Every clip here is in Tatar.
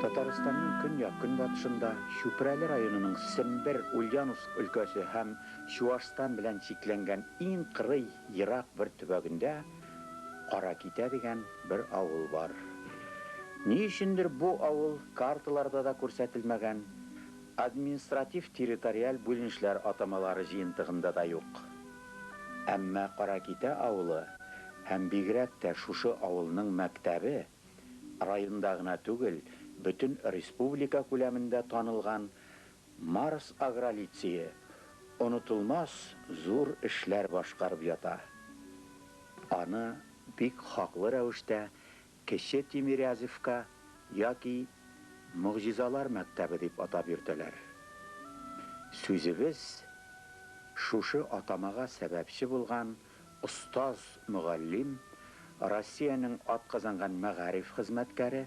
Татарстанның көньяк-көнбатышында, Чүпрәле районының Сембер, Ульяновск өлкәсе һәм Чуашстан белән чикләнгән иң кырый, ерак бер төбәгендә, Каракитә дигән бер авыл бар. Ни өчендер бу авыл карталарда да күрсәтелмәгән, административ-территориаль бүленешләр атамалары җыентыгында да юк. Әмма Каракитә авылы һәм бигрәк тә шушы авылның мәктәбе районда гына түгел, бөтен республика күләмендә танылган Марс Агролицее онытылмас зур эшләр башкарып ята. Аны бик хаклы рәвештә Кече Тимирязевка яки Могҗизалар мәктәбе дип атап йөртәләр. Сүзебез шушы атамага сәбәпче булган остаз-мөгаллим, Россиянең атказанган мәгариф хезмәткәре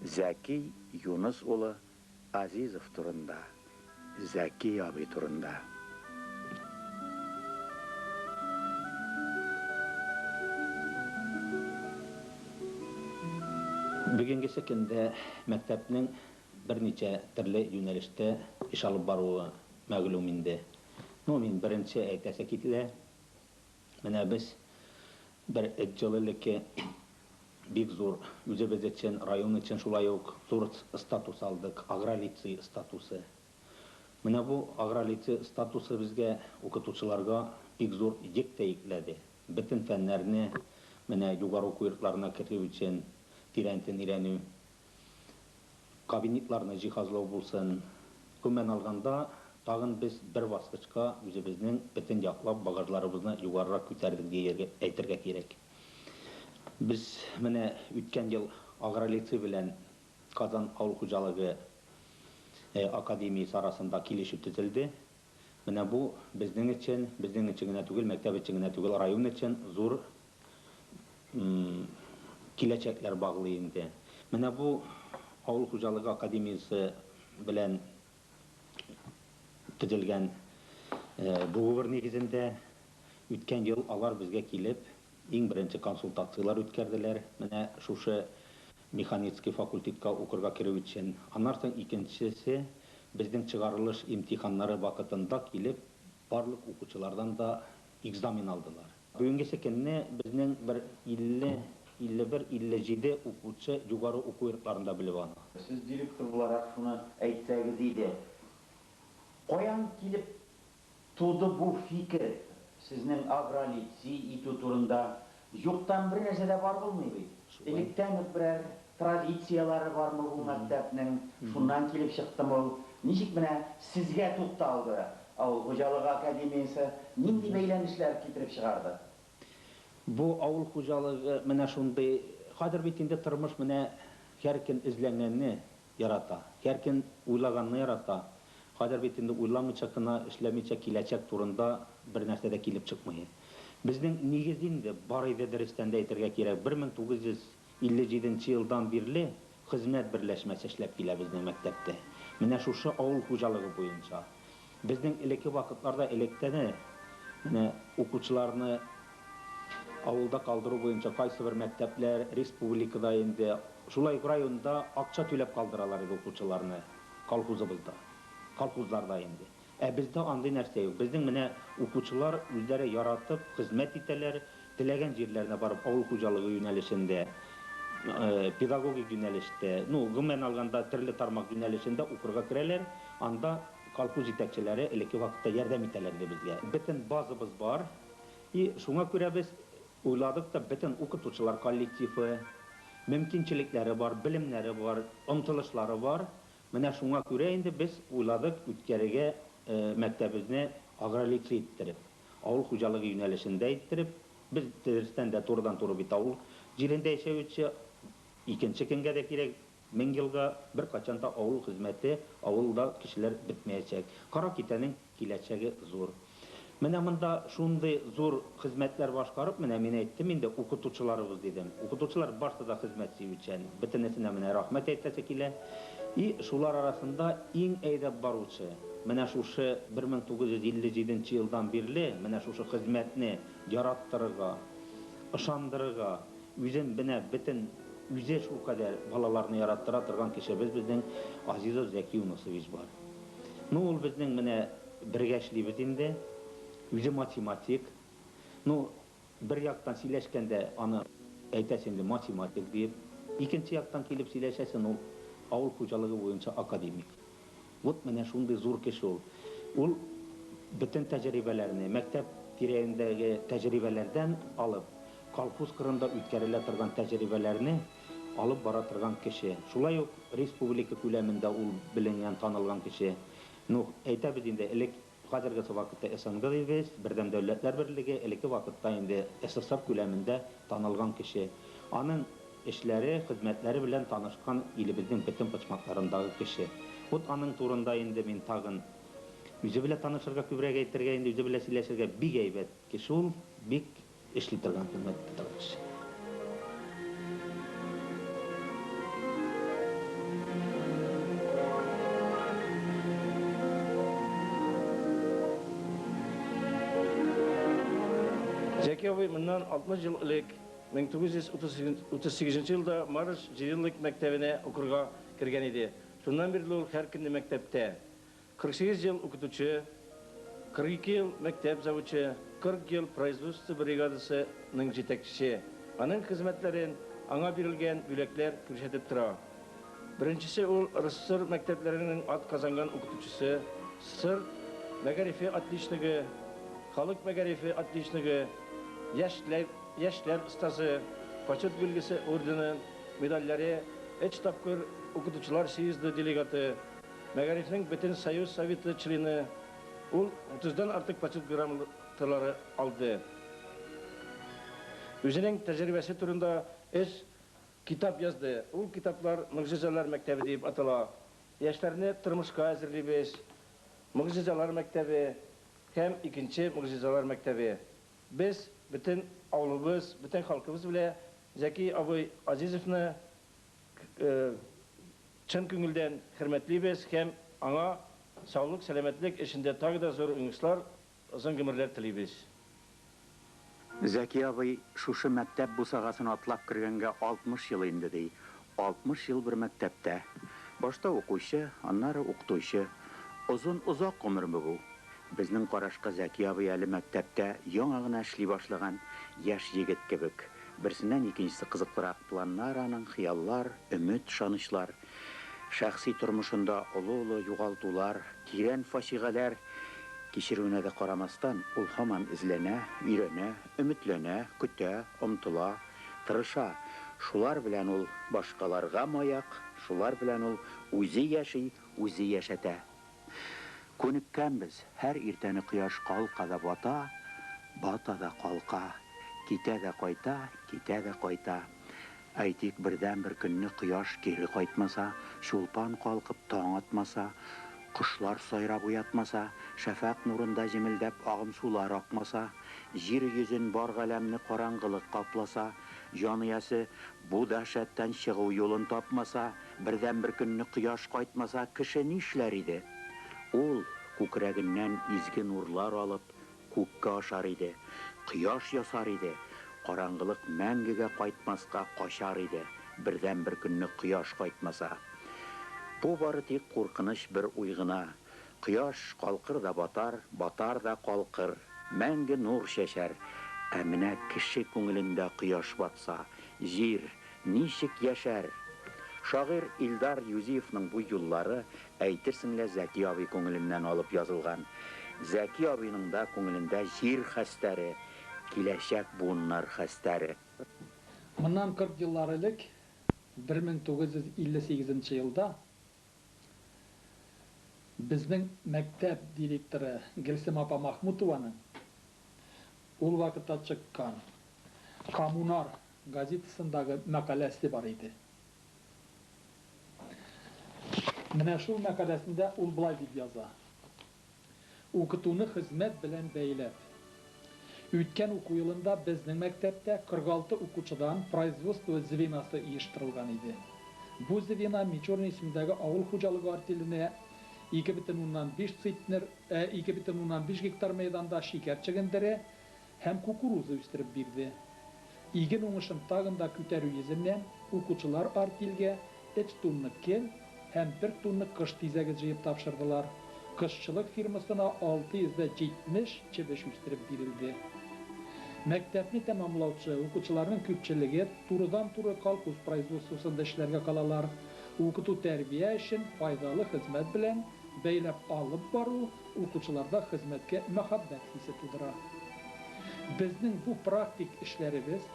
Зәки Юныс улы Азизов турында, Зәки абый турында. Бүгенгесе көндә мәктәпнең берничә төрле юнәлештә эш алып баруы мәгълүм инде. Ну, мин беренче әйтәсе кителә. Менә без бер эт җылы элекке бик зур үзебез өчен, район өчен шулай ук зур статус алдык, агролицей статусы. Менә бу агролицей статусы безгә, укытучыларга бик зур йөк тә йөкләде. Бөтен фәннәрне менә югары уку йортларына керү өчен тирәнтен өйрәнү. кабинетларны җиһазлау булсын, гомумән алганда, тагын без бер баскычка үзебезнең бөтен яклап багажларыбызны югарырак күтәрдек диергә, әйтергә кирәк. Без менә үткән ел Агролицей белән Казан авыл хуҗалыгы академиясе арасында килешү төзелде. Менә бу безнең өчен, безнең өчен генә түгел, мәктәп өчен генә түгел, район өчен зур киләчәкләр баглый инде. Менә бу авыл хуҗалыгы академиясе белән төзелгән договор нигезендә үткән ел алар безгә килеп, иң беренче консультацияләр үткәрделәр, менә шушы Механицкий факультетка укырга керү өчен, аннан соң икенчесе безнең чыгарылыш имтиханнары вакытында килеп, барлык укучылардан да экзамен алдылар. Бүгенгесе көнне безнең бер 50, 51, 57 укучы югары уку йортларында белем ала. Сез директор буларак шуны әйтсәгез иде. Каян килеп туды бу фикер, сезнең агролици итү турында? Юктан бер нәрсә дә бар булмый бит. Электән үк берәр традицияләре бармы бу мәктәпнең, шуннан килеп чыктымы ул? Ничек менә сезгә тукталды авыл хуҗалыгы академиясе, нинди бәйләнешләр китереп чыгарды? Бу авыл хуҗалыгы менә шундый, хәзер бит инде тормыш менә һәркем эзләнгәнне Ярата. Һәр көн уйлаганны ярата. Хәзер бит инде уйламыйча кына, эшләмичә киләчәк турында бер нәрсә дә килеп чыкмый. Безнең нигез инде бар иде дөрестән дә әйтергә кирәк, 1957 нче елдан бирле хезмәт берләшмәсе эшләп килә безнең мәктәптә. Менә шушы авыл хуҗалыгы буенча. Безнең элекке вакытларда электәне менә укучыларны авылда калдыру буенча кайсыбер мәктәпләр республикада инде, шулай ук районда акча түләп калдыралар иде укучыларны колхозыбызда, колхозларда инде. Ә бездә андый нәрсә юк. Безнең менә укучылар үзләре яратып хезмәт итәләр, Теләгән җирләренә барып авыл хуҗалыгы юнәлешендә, педагогик юнәлештә, ну, гомумән алганда, төрле тармак юнәлешендә укырга керәләр. Анда колхоз җитәкчеләре элекке вакытта ярдәм итәләр иде безгә. Бөтен базабыз бар. И шуңа күрә без уйладык та, бөтен укытучылар коллективы, мөмкинчелекләре бар, белемнәре бар, омтылышлары бар. Менә шуңа күрә инде без уйладык үткәрергә мәктәбебезне агролицей иттереп. Авыл хуҗалыгы юнәлешендә иттереп, без дөрестән дә турыдан-туры бит авыл җирендә яшәүче, икенче кемгә дә кирәк, мең елга беркайчан да авыл хезмәте, авылда кешеләр бетмәячәк. Каракитәнең киләчәге зур. Менә монда шундый зур хезмәтләр башкарып, менә мин әйттем инде, укытучыларыбыз дидем. Укытучылар барсы да хезмәт сөючән, бөтенесенә менә рәхмәт әйтәсе килә. И шулар арасында иң әйдәп баручы, менә шушы 1957 нче елдан бирле менә шушы хезмәтне яраттырырга, ышандырырга, үзен менә бетен үзе шулкадәр балаларны яраттыра торган кешебез безнең Азизов Зәки Юнысович бар. Ну, ул безнең менә бергә эшлибез инде, үзе математик. Ну, Бер яктан сөйләшкәндә аны әйтәсе инде математик диеп, икенче яктан килеп сөйләшәсен ул авыл хуҗалыгы буенча академик. Вот менә шундый зур кеше ул. Ул бөтен тәҗрибәләрне, мәктәп тирәендәге тәҗрибәләрдән алып, колхоз кырында үткәрелә торган тәҗрибәләрне алып бара торган кеше. Шулай ук республика күләмендә ул беленгән, танылган кеше. Ну, әйтәбез инде, элек Хәзергесе вакытта СНГ ЕГЭС, Бердәм Дәүләтләр Берлеге, элекке вакытта инде СССР күләмендә танылган кеше. Аның эшләре, хезмәтләре белән танышкан илебезнең бөтен почмакларындагы кеше. Вот аның турында инде мин тагын үзе белә танышырга, күбрәк әйтергә, инде үзе белә сөйләшергә. Бик әйбәт кеше ул, бик. Эшли торган хезмәт тотылгач. Зәки абый моннан 60 ел элек, 1938 елда Марыш җыелык мәктәбенә укырга кергән иде. Шуннан бирле ул һәркөнне мәктәптә. 48 ел укытучы, 42 ел мәктәп завучы, 40 ел производство бригадасы ның җитәкчесе. Аның хезмәтләрен аңа бирелгән бүләкләр күрсәтеп тора. Беренчесе ул рсср мәктәпләренең ат казанган укытучысы, сср мәгарифе отличнигы, халык мәгарифе отличнигы, яшьләр яшьләр остазы, Почет билгесе ордены, медальләре, өч тапкыр укытучылар съезды делегаты, Мәгарифнең бөтен союз советы члены, ул 30 дан артык почет грамоталары алды. Үзенең тәҗрибәсе турында өч китап язды. Ул китаплар Могҗизалар мәктәбе диеп атала, Яшьләрне тормышка әзерлибез, Могҗизалар мәктәбе һәм Икенче могҗизалар мәктәбе. Без бөтен авылыбыз, бөтен халкыбыз белә Зәки абый Азизовны, Чын күңелдән хөрмәтлибез һәм аңа саулык сәламәтлек эшендә тагы да зур уңышлар, озын гомерләр телибез. Зәки абый шушы мәктәп бусагасын атлап кергәнгә 60 ел инде, ди. 60 ел бер мәктәптә. Башта укучы, аннары укытучы. Озын, озак гомерме бу? Безнең карашка Зәки абый әле мәктәптә яңа гына эшли башлаган яшь егет кебек. Берсеннән икенчесе кызыклырак планнар аның, хыяллар, өмет, ышанычлар. Шәхси тормышында олы-олы югалтулар, тирән фаҗигаләр кичерүенә дә карамастан, ул һаман эзләнә, өйрәнә, өметләнә, көтә, омтыла, тырыша. Шулар белән ул башкаларга маяк, шулар белән ул үзе яши, үзе яшәтә. Күнеккәнбез, һәр иртәне кояш калка да бата, бата да калка, китә дә кайта, китә дә кайта. Әйтик, бердәнбер көнне кояш кире кайтмаса, Чулпан калкып таң атмаса, кошлар сайрап уятмаса, шәфәкъ нурында җемелдәп агым сулар акмаса, җир йөзен, бар галәмне караңгылык капласа, җан иясе бу дәһшәттән чыгу юлын тапмаса, Бердәнбер көнне кояш кайтмаса, кеше нишләр иде? Ул, күкрәгеннән изге нурлар алып, күккә ашар иде, кояш ясар иде, караңгылык мәңгегә кайтмаска качар иде, бердәнбер көнне кояш кайтмаса. Бу бары тик куркыныч бер уй гына. Кояш калкыр да батар, батар да калкыр, мәңге нур чәчәр. Ә менә кеше күңелендә кояш батса, җир ничек яшәр? Шагыйрь Илдар Юзиевның бу юллары, әйтерсең лә, Зәки абый күңеленнән алып язылган. Зәки абыйның да күңелендә җир хәстәре, киләчәк буыннар хәстәре. Моннан 40 еллар элек, 1958 елда, Безнең мәктәп директоры Гөлсем апа Махмутованың ул вакытта чыккан Коммунар газетасындагы мәкаләсе бар иде. Менә шул мәкаләсендә ул болай дип яза. Укытуны хезмәт белән бәйләп. Үткән уку елында безнең мәктәптә 46 укучыдан производство звенасы оештырылган иде. Бу звено Мичурин исемендәге авыл хуҗалыгы артеленә 2,5 цитнер, ә 2,5 гектар мәйданда шикәр чөгендере, һәм кукуруза үстереп бирде. Иген уңышын тагын да күтәрү йөзеннән, укучылар артельгә өч тунны кел һәм бер тунны кыш тизәге җыеп тапшырдылар. Кошчылык фирмасына 670 чебеш үстереп бирелде. Мәктәпне тәмамлаучы укучыларның күпчелеге турыдан-туры колхоз производствосында эшләргә калалар. Укыту-тәрбия эшен файдалы хезмәт белән бәйләп алып бару укучыларда хезмәткә мәхәббәт хисе тудыра. Безнең бу практик эшләребез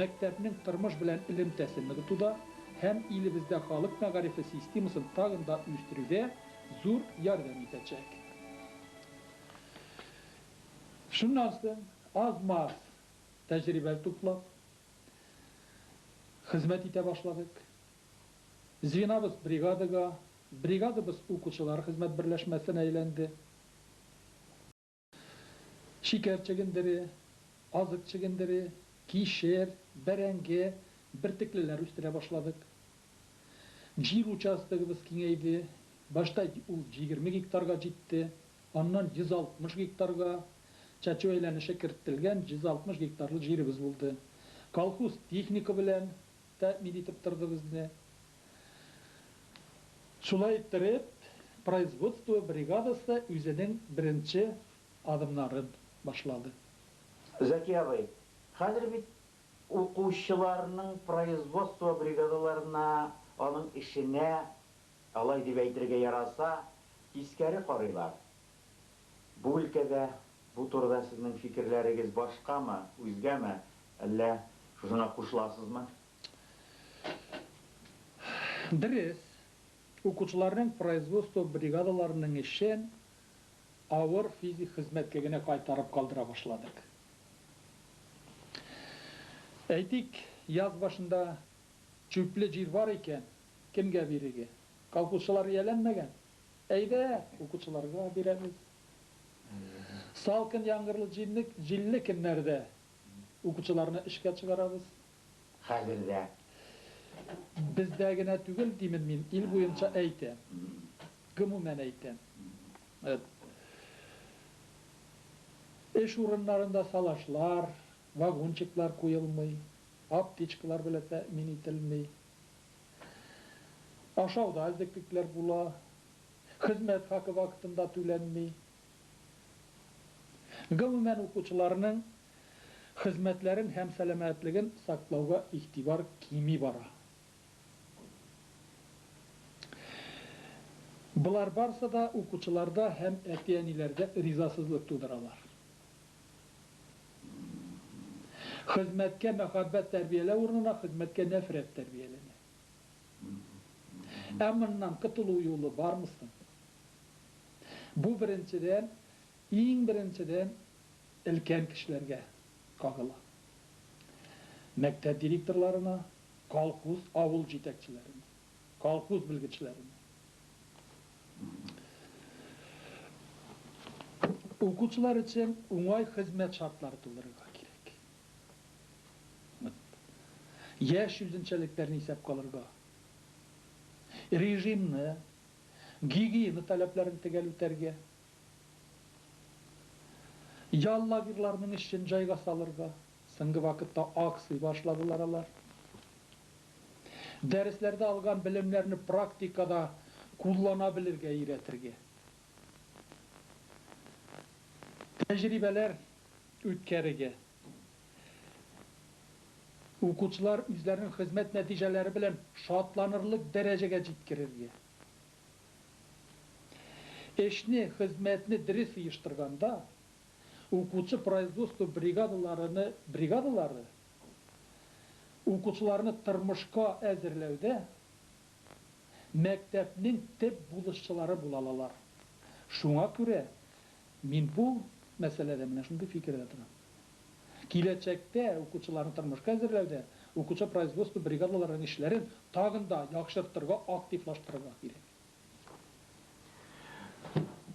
мәктәпнең тормыш белән элемтәсен ныгытуда һәм илебездә халык мәгарифе системасын тагын да үстерүдә зур ярдәм итәчәк. Шуннан соң, аз-маз тәҗрибә туплап, хезмәт итә башладык. Звенобыз бригадага, бригадабыз укучылар хезмәт берләшмәсенә әйләнде. Шикәр чөгендере, азык чөгендере, кишер, бәрәңге, бөртеклеләр үстерә башладык. Җир участогыбыз киңәйде, башта ул җигерме гектарга җитте, аннан 160 гектарга, чәчү әйләнеше керттелгән 160 гектарлы җиребез булды. Колхоз техника белән Тәэмин итеп торды безне. Шулай иттереп, производство бригадасы үзенең беренче адымнарын башлады. Зәки абый, хәзер бит укучыларның производство бригадаларына, аның эшенә, алай дип әйтергә яраса, тискәре карыйлар. Бу өлкәдә бу турыда сезнең фикерләрегез башкамы, үзгәме, әллә шушына кушыласызмы? Дөрес, укучыларның производство бригадаларының эшен авыр физик хезмәтлегенә кайтарып калдыра башладык. Әйтик, яз башында чүпле җир бар икән, кемгә бирергә? Колхозчылар ияләнмәгән, Әйдә, укучыларга бирәбез. Салкын яңгырлы җилле көннәрдә укучыларны эшкә чыгарабыз. Хәзер дә. Бездә генә түгел, димен мин, ил буенча әйтәм. Гомумән әйтәм. Эш урыннарында салашлар, вагончиклар куелмый, аптечкалар белән тәэмин ителми. Ашауда эзлеклекләр була, хезмәт хакы вакытында түләнми. Гомумән, укучыларның хезмәтләрен һәм сәламәтлеген саклауга игътибар кими бара. Болар барсы да укучыларда һәм әти-әниләрдә ризасызлык тудыралар. Хезмәткә мәхәббәт тәрбияләү урынына хезмәткә нәфрәт тәрбияләнә. Ә моннан котылу юлы бармы соң? Бу беренчедән, иң беренчедән өлкән кешеләргә кагыла. Мәктәп директорларына, колхоз, авыл җитәкчеләренә. колхоз белгечләренә, укучылар өчен уңай хезмәт шартлары тудырырга кирәк. Яшь үзенчәлекләрне исәпкә алырга, режимны, гигиена таләпләрен төгәл үтәргә, ял лагерьларының эшен җайга салырга, соңгы вакытта акций башладылар алар. Дәресләрдә алган белемнәрне практикада куллана белергә өйрәтергә. Тәҗрибәләр үткәрергә. Укучылар үзләренең хезмәт нәтиҗәләре белән шатланырлык дәрәҗәгә җиткерергә. Эшне, хезмәтне дөрес оештырганда, укучы производство бригадаларыны бригадалары Укучыларны тормышка әзерләүдә мәктәпнең төп булышчылары була алалар. Шуңа күрә мин бу мәсьәләдә менә шундый фикердә торам. Киләчәктә укучыларны тормышка әзерләүдә укучы производство бригадаларының эшләрен тагын да яхшыртырга, активлаштырырга кирәк.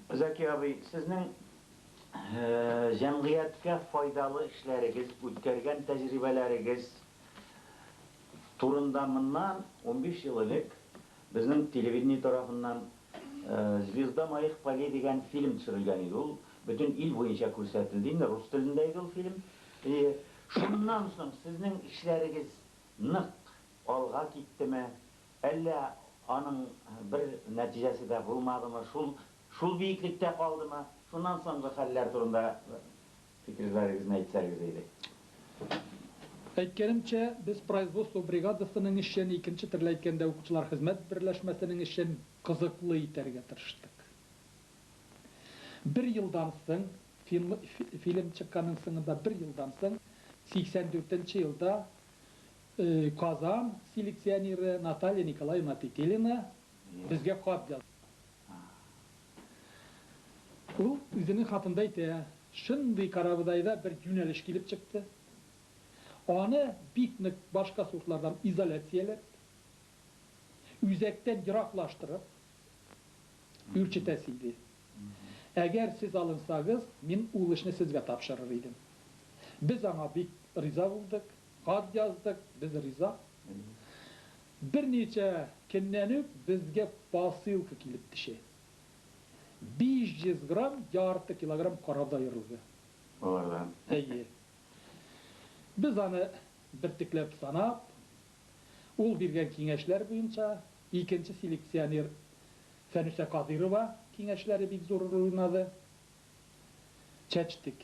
Зәки абый, сезнең җәмгыятькә файдалы эшләрегез, үткәргән тәҗрибәләрегез турында моннан унбиш ел элек безнең телевидение тарафыннан Звезда моих полей дигән фильм төшерелгән иде. Ул бөтен ил буенча күрсәтелде инде, рус телендә иде ул фильм. Әйе, шуннан соң сезнең эшләрегез нык алга киттеме? Әллә аның бер нәтиҗәсе дә булмадымы, шул шул биеклектә калдымы? Шуннан соңгы хәлләр турында фикерләрегезне әйтсәгез иде. Әйткәнемчә, без производство бригадасының эшен, икенче төрле әйткәндә, укытучылар хезмәт берләшмәсенең эшен кызыклы итәргә тырыштык. Бер елдан соң, финл фильм чыкканның соңында бер елдан соң, 84 нче елда Казан селекционеры Наталья Николаевна Петелина безгә хат язды. Ул үзенең хатында әйтә, Шундый карабодайда бер юнәлеш килеп чыкты. Аны бик нык башка сортлардан изоляцияләп, үзәктән ераклаштырып үрчетәсе иде. Әгәр сез алынсагыз, мин ул эшне сезгә тапшырыр идем. Без аңа бик риза булдык. Хат яздык, без риза. Берничә көннән үк безгә посылка килеп төшә. 500 грамм, ярты килограмм карабыз аерылды. Алардан? Әйе. Без аны бөртекләп санап, ул биргән киңәшләр буенча, икенче селекционер Фәнүсә Кадыйрова киңәшләре бик зур роль уйнады, чәчтек.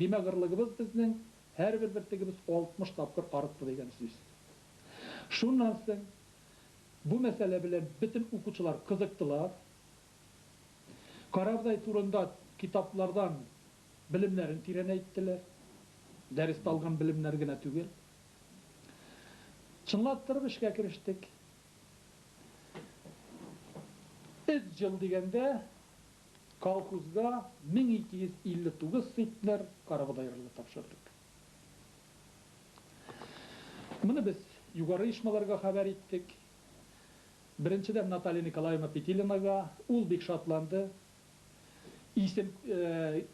Бимәгърлыгыбыз безнең һәрбер бөртегебез 60 тапкыр арытты дигән сүз. Шуннан соң бу мәсьәлә белән бөтен укучылар кызыктылар. Карабдай турында китаплардан белемнәрен тирәнәйттеләр. Дәрестә алган белемнәр генә түгел. Чынлаштырып эшкә керештек. Өч ел дигәндә, Колхозга 1259 центнер карабодай рылы тапшырдык. Моны без югары оешмаларга хәбәр иттек. Беренчедән Наталья Николаевна Петилинага, ул бик шатланды. Исем,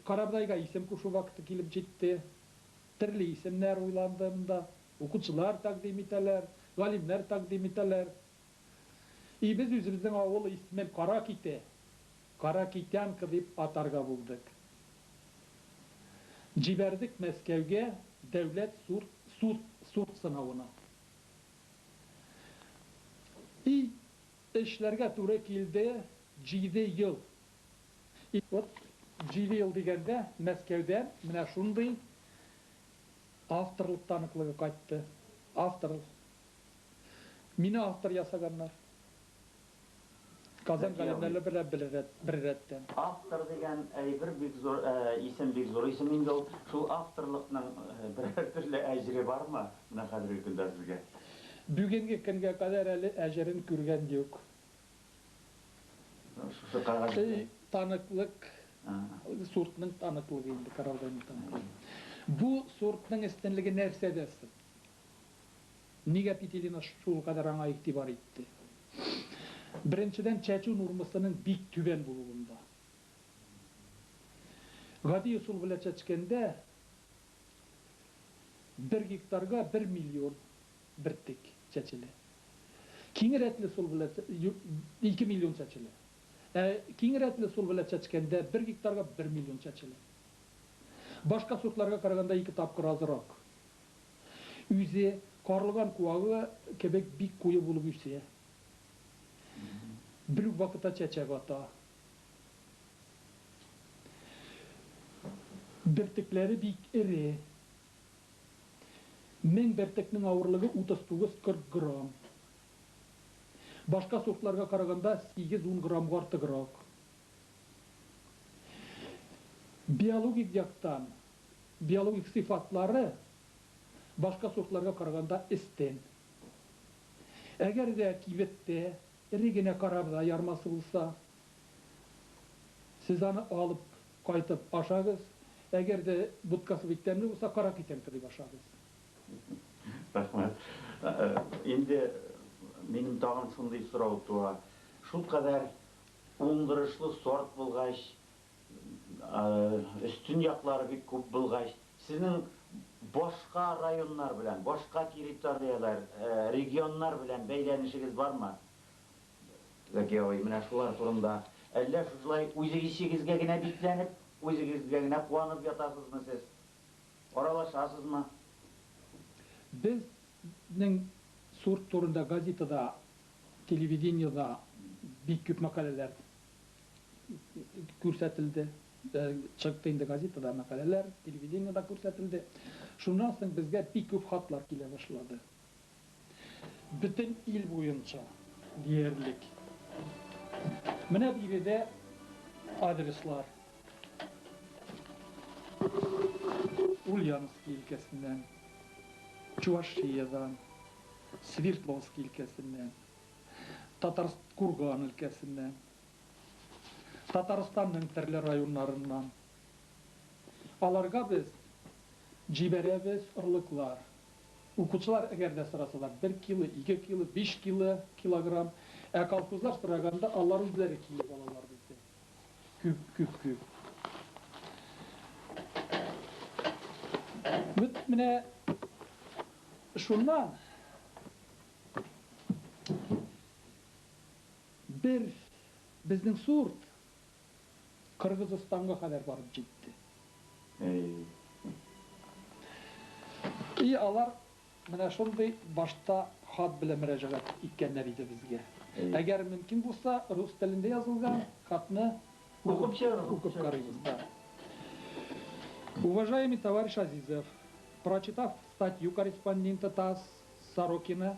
карабодайга исем кушу вакыты килеп җитте. Төрле исемнәр уйланды монда. Укучылар тәкъдим итәләр, галимнәр тәкъдим итәләр. И без үзебезнең авыл исмен Кара Ките, Кара Китянка дип атарга булдык. Җибәрдек Мәскәүгә дәүләт сурт сынавына. И эшләргә туры килде җиде ел. Вот җиде ел дигәндә Мәскәүдән менә шундый автор таныклыгы кайтты. Автор Мине автор ясаганнар. Казан Зәки абый. галимнәле белән бер рәт, бер рәттән. Автор дигән әйбер бик зур исем, бик зур исем инде ул. Шул авторлыкның берәр төрле әҗере бармы менә хәзерге көндә сезгә? Бүгенге көнгә кадәр әле әҗерен күргән юк. Шушы кәгазь Эй, белән. таныклык, суртның таныклыгы инде, Кораллы Әйнү таныклыгы. Бу суртның өстенлеге нәрсәдә соң? Нигә Петелина шулкадәр аңа игътибар итте? Беренчедән, чәчү нормасының бик түбән булуында. Гади ысул белән чәчкәндә, бер гектарга бер миллион бөртек чәчелә. Киң рәтле ысул белән ике миллион чәчелә. Ә киң рәтле ысул белән чәчкәндә, бер гектарга бер миллион чәчелә. Башка сортларга караганда ике тапкыр азрак. Үзе, карлыган куагы кебек бик куе булып үсә. Бер үк вакытта чәчәк ата. Бөртекләре бик эре. Мең бөртекнең авырлыгы 39-40 грамм. Башка сортларга караганда сигез-ун граммга артыграк. Биологик яктан биологик сыйфатлары башка сортларга караганда өстен. Әгәр дә кибеттә эре генә карабода ярмасы булса, сез аны алып кайтып ашагыз, әгәр дә будкасы бик тәмле булса, кара китен кырып ашагыз. Рәхмәт. Инде минем тагын шундый сорау туа, шулкадәр уңдырышлы сорт булгач, Өстен яклары бик күп булгач, сезнең башка районнар белән, башка территорияләр, регионнар белән бәйләнешегез бармы? Зәки абый, менә шулар турында. Әллә шушылай үзегезчегезгә генә бикләнеп, үзегезгә генә куанып ятасызмы сез? Аралашасызмы? Безнең сорт турында газетада, телевидениедә бик күп мәкаләләр. күрсәтелде. Чыкты инде газетада мәкаләләр, телевидениедә күрсәтелде. Шуннан соң безгә бик күп хатлар килә башлады. Бөтен ил буенча диярлек. Менә биредә адреслар. Ульяновски өлкәсеннән, Чувашиядән, Свердловски өлкәсеннән, Татарстан Курган өлкәсеннән. Татарстанның төрле районнарыннан. Аларга без җибәрәбез орлыклар. Укучылар әгәр дә сорасалар, бер кило, ике кило, биш кило, килограмм. Ә колхозлар сораганда, алар үзләре килеп алалар бездән. Күп, күп, күп. Бит менә шуннан. Бер безнең сурт Кыргызыстанга кадәр барып җитте. И алар менә шундый башта хат белән мөрәҗәгать иткәннәр иде безгә. Әгәр мөмкин булса, рус телендә язылган хатны укып карыйбыз да. Уважаемый товарищ Азизов, прочитав статью корреспондента ТАСС Сорокина,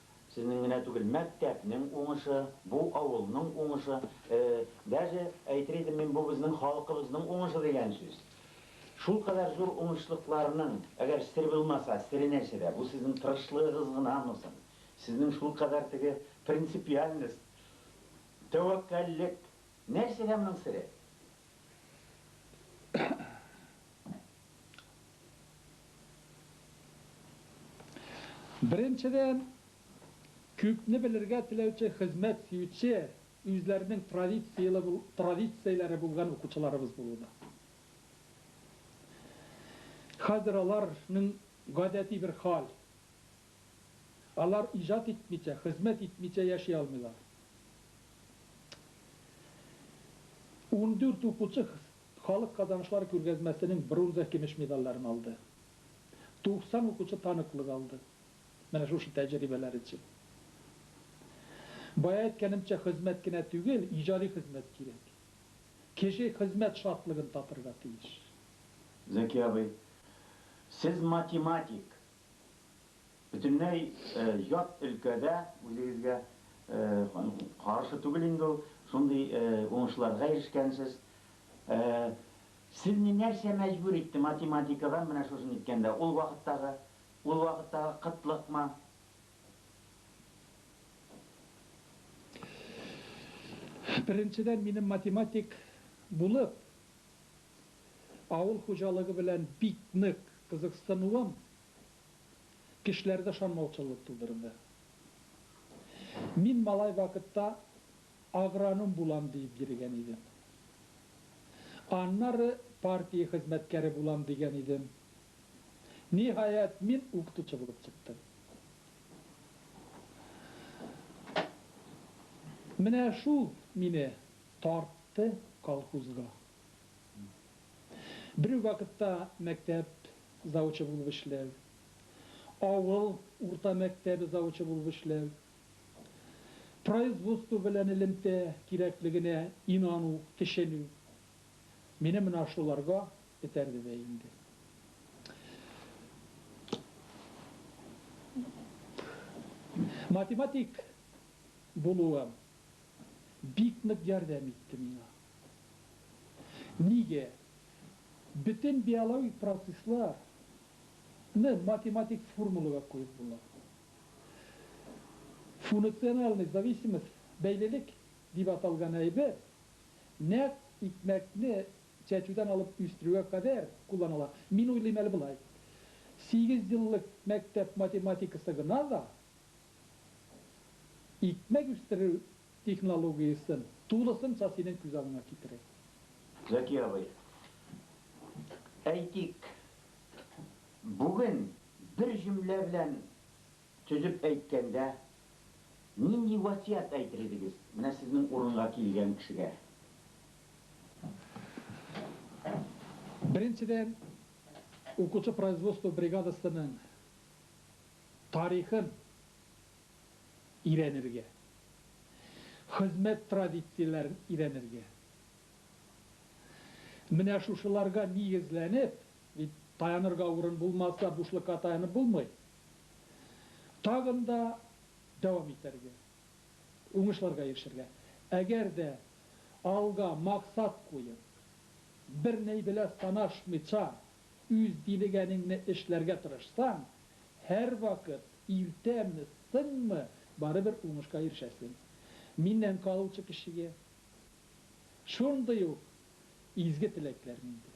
Сезнең генә түгел, мәктәпнең уңышы, бу авылның уңышы, даже әйтер идем мин, бу безнең халкыбызның уңышы дигән сүз. Шулкадәр зур уңышлыкларның, әгәр сер булмаса, сере нәрсәдә? Бу сезнең тырышлыгыгыз гынамы соң? Сезнең шулкадәр теге принципиальность, тәвәккәллек, нәрсәдә моның сере? Беренчедән, күпне белергә теләүче, хезмәт сөюче, үзләренең традицияләре булган укучыларыбыз булуда. Хәзер аларның гадәти бер хәл, алар иҗат итмичә, хезмәт итмичә яши алмыйлар. Ундүрт укучы Халык казанышлары күргәзмәсенең бронза-көмеш медальләрен алды. 90 укучы таныклык алды. Менә шушы тәҗрибәләр өчен. Бая әйткәнемчә, хезмәт кенә түгел, иҗади хезмәт кирәк. Кеше хезмәт шатлыгын татырга тиеш. Зәки абый, сез математик, Бөтенләй ят өлкәдә үзегезгә каршы түгел инде ул, шундый уңышларга ирешкәнсез. Сезне нәрсә мәҗбүр итте математикага менә шушы ниткәндә? Ул вакыттагы, ул вакыттагы кытлыкмы? Беренчедән, минем математик булып Авыл хуҗалыгы белән бик нык кызыксынуым кешеләрдә шанмаучанлык тудырды. Мин малай вакытта агроном булам диеп йөрегән идем. Аннары партия хезмәткәре булам дигән идем. Ниһаять, мин укытучы булып чыктым. Менә шул мине тартты колхозга. Бер үк вакытта мәктәп завучы булып эшләү, авыл урта мәктәбе завучы булып эшләү, производство белән элемтә кирәклегенә инану, төшенү, мине менә шуларга этәрде дә инде. Математик булуым бик нык ярдәм итте миңа. Нигә? Бөтен биологик процесслар ны математик формулага куеп була. Фунуциональный зависимость, бәйлелек, дип аталган әйбер нәкъ икмәкне чәчүдән алып үстерүгә кадәр кулланыла. Мин уйлыйм әле болай, сигез еллык мәктәп математикасы гына да икмәк үстерү Технологиясен тулысынча синең күз алдыңа китерик. Зәки абый, әйтик, бүген бер җөмлә белән төзеп әйткәндә, нинди васыять әйтер идегез менә сезнең урынга килгән кешегә? Беренчедән, укучы производство бригадасының тарихын. өйрәнергә, хезмәт традицияләрен өйрәнергә. Менә шушыларга нигезләнеп, бит таянырга урын булмаса, бушлыкка таянып булмый, тагын да дәвам итәргә, уңышларга ирешергә. Әгәр дә алга максат куеп, бернәй белә санашмыйча, үз дилегәнеңне эшләргә тырышсаң, Һәрвакыт иртәме, соңмы, барыбер уңышка ирешәсең. Миннән калучы кешегә шундый ук изге теләкләр миндә.